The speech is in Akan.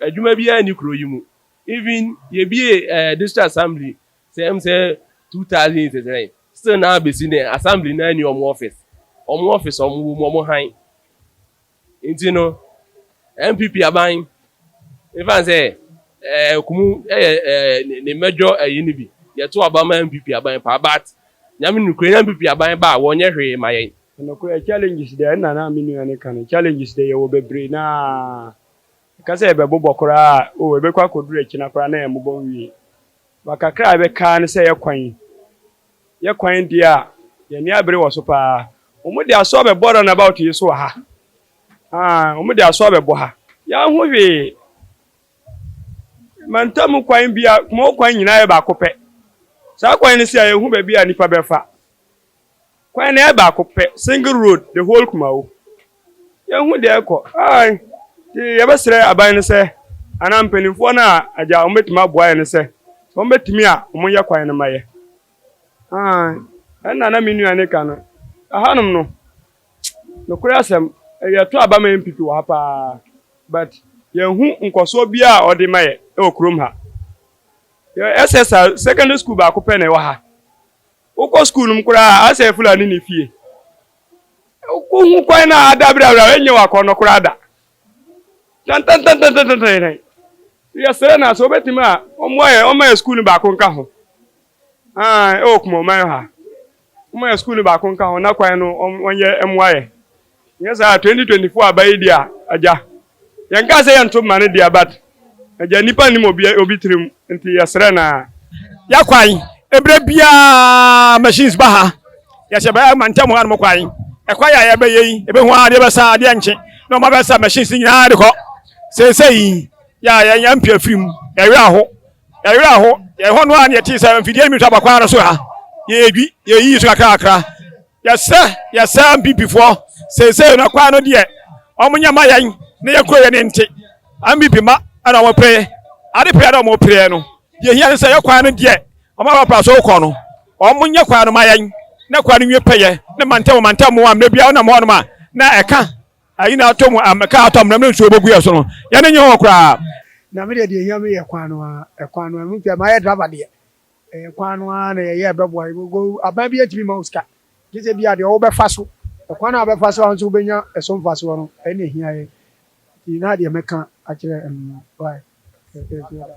Adwuma biara nni kuro yi mu. Even yɛ bie eh district assembly sɛ ɛm sɛ two thousand years sɛn still naa bɛsi nɛ assembly naa nni ɔmo office. Ɔmo office a ɔmo wɔ mu ɔmo hann. Nti no NPP aban nfa nsɛ eh kumu ɛyɛ eh ne mɛdwɔ ɛyi no bi. Yɛ to aba ma NPP aban paa but Nyame nim kura NPP aban ba a wɔ nyɛ hwee ma yɛn. Nokorɛ challenges dɛ ɛna na me nua no ka no challenges dɛ yɛwɔ bebree naa Ɛka sɛ ɛbɛbobɔ koraa a, oh, ɛbɛkɔ akɔduru akyina koraa na ɛmmobɔ nwie. Ba kakra a ɛbɛka ara ne sɛ yɛkwan yi. Yɛkwan deɛ a, yɛn ani abere wɔ so pa ara. Wɔde aso abɛbɔ runabout yi so wɔ ha. Aane, wɔde aso abɛbɔ ha. Yɛanhu hwee. Mantam kwan biara, Kumawo kwan nyinaa yɛ baako pɛ. Saa kwan no si a, yɛnhu baabi a nnipa bɛfa. Kwan no yɛ baako pɛ, single road, the whole Kumawo. Yɛnhu deɛ ɛrekɔ. Aye. Nti yɛbɛsrɛ aban no sɛ, anaa mpanimfoɔ no a agya wɔbɛtumi aboa yɛn no sɛ, sɛ wɔbɛtumi a wɔnyɛ kwan no ma yɛ. Aye. Ɛna na me nua no reka no. Ɛhanom no, nokorɛ asɛm, yɛto aba ma NPP wɔ ha pa ara, but yɛnhu nkɔsoɔ biara a wɔde ma yɛ wɔ kurom ha. Yɛwɔ SSR, secondary school baako pɛ na ɛwɔ ha. Wokɔ sukuu no mu koraa a, asɛe Fulani no fie. Wohu kwan no a ada berɛberɛ a, ɛnyɛ w'akɔnnɔ koraa da. Tantantantantantantan. Yɛsrɛ no a, sɛ wɔbɛtumi a, wɔmmoa yɛn, wɔmma yɛn sukuu no baako nka ho. Ae, ɛwɔ Kumaman ha. Wɔmma yɛn sukuu no baako nka ho, na kwan no wɔnyɛ mmoa yɛn. Nyɛ saa a twenty twenty four aba yi deɛ agya yɛnkaa sɛ yɛnto mma no deɛ but agya nipa nim obi obi tirim nti yɛsrɛ na yɛ kwan ebire biara machines ba ha yɛhyɛ bɛ ɛma ntɛm ha nom kwan ɛkwan yɛ a yɛbɛyɛ yi ebehu adeɛ bɛsa adeɛ nkye na ɔma bɛsa machines nyinaa de kɔ sese yi yɛ a yɛn yɛn mpia firim yɛwerɛ aho yɛwerɛ aho yɛn hɔ no a ne yɛte sɛ mfidie mi to abakwan no so ha yɛdwi yɛyi so kakra kakra Yɛsrɛ yɛsɛ Ambibifoɔ seesei no kwan no deɛ wɔn nyɛ ma yɛn na yɛn kuro yɛ ne nte Ambibi ma ɛna wɔn pere ade pere na wɔn pere no deɛ hia no sɛ yɛ kwan no deɛ wɔn a wɔpra so kɔ no wɔn nyɛ kwan no ma yɛn na kwan no nwie pɛyɛ ne mantam mantam mu a mmerɛ biara wɔnam hɔnom a na ɛka ayi na atɔ mu ɛka atɔ mmerɛ mmerɛ nsuo bɛgu yɛ so no yɛne nyɛ hɔ koraa. Na me deɛ deɛ hia me yɛ kwan no a ɛkwan no a ɛmu pɛ ma yɛ driver deɛ Ɛyɛ kwan no ara na yɛyɛ bɛboa yɛn. Aban biara ntumi mma wo sika, gye sɛ ebia deɛ wobɛfa so, ɛkwan a wobɛfa so a wo nso wobɛnya so mfasoɔ no, ɛno na ɛhia yɛn. Nti na deɛ mɛka akyerɛ, mm, wai, ɛhia da.